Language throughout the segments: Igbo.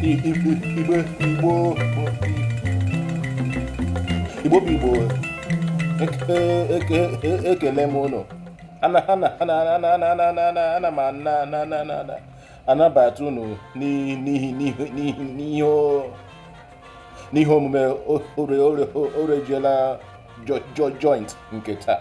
Igbo Igbo Igbo Igbo bụ Igbo ekele m unu ana m anabata unu n'ihe omume orejiela joint nke taa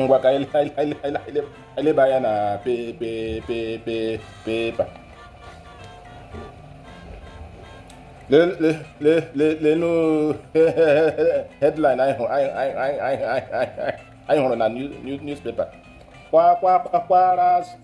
ngwa ka eleba anya na pepa lenu headline anyị hụrụ na newspaper kwa kwa kwa kwa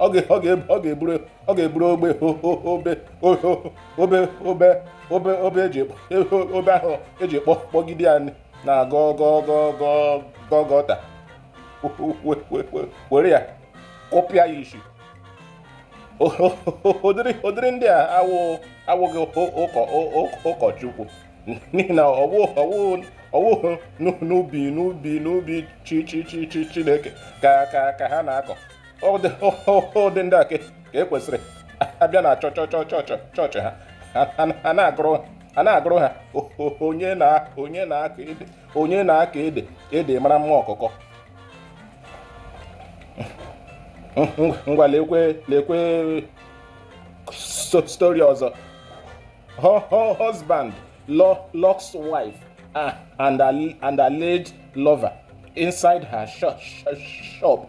ọ ga- ọ ga- ọ ga-eburu ọ ga-eburu obe o- o- obe o- o- obe obe obe obe eji ekpo- o- obe ahụ eji kpọ kpọgide ya na gọ gọ gọ gọ gọ gọta We- we- we- we- were ya kụpịa ya isi O- o- o- ụdịrị ụdịrị ndị a awụ awụghị ụ- ụkọ ụ- ụ- ụkọchukwu n'ihi na ọwụ ọwụ ọwụ n'u- n'ubi n'ubi n'ubi chi chi chi chi chineke ka ka ka ha na-akọ ụdị ndị a ka e kwesịrị a bịa na chọchọ chọchọ chọọchị a na-agụrụ a na-agụrụ ha onye na onye na-akọ ede onye na-akọ ede ede mara mma ọkụkọ ngwa lekwe lekwe story ọzọ husband locks wife ah, and alleged lover inside her shop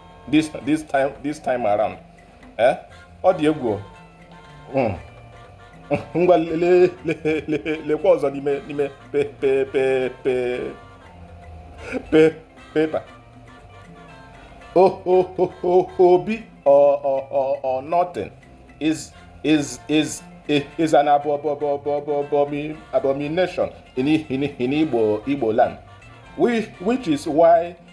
this this time this time around eh ọ dị egwu hmm. ngwa lekwa ọzọ n'ime n'ime pepa Obi or nothing is is is is an abomination in Igbo Igbo land which is why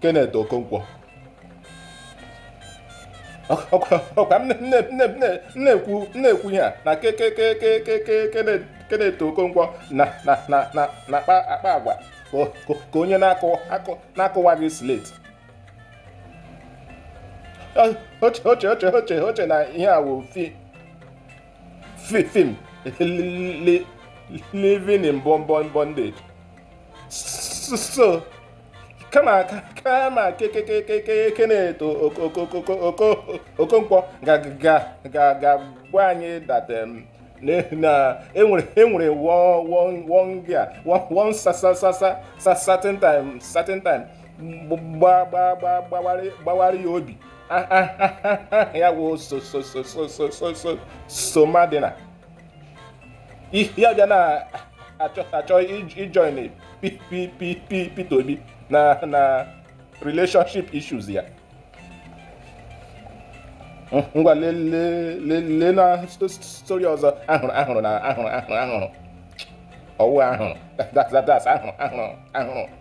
Kenneth Okonkwo ọkwa na-ekwu ihe a na Kenneth Okonkwo na-akpa akpa agwa ka onye na-akụwaghị slate o che o che o che o che na ihe a wụ fi film living in bondage so kama kama ke ke ke ke Kenneth Okonkwo ga-agwa anyị that um, na enwere enwere one cer- one certain time certain time gbawara ya obi ya wụ Somadina ihe ọbịa na-achọ achọ ijoin Peter Obi na na relationship issues ya ngwa lelee na story ọzọ ahụrụ ahụrụ ọ wụ ahụrụ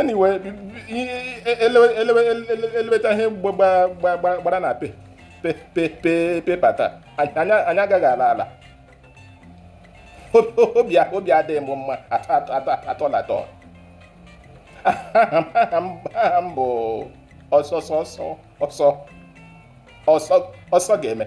anyway elebechaa ihe gbara na pepa taa anyị agaghị ala ala obi adịghị m mma atọ na atọ aha m bụ ọsọ ọsọ ga-eme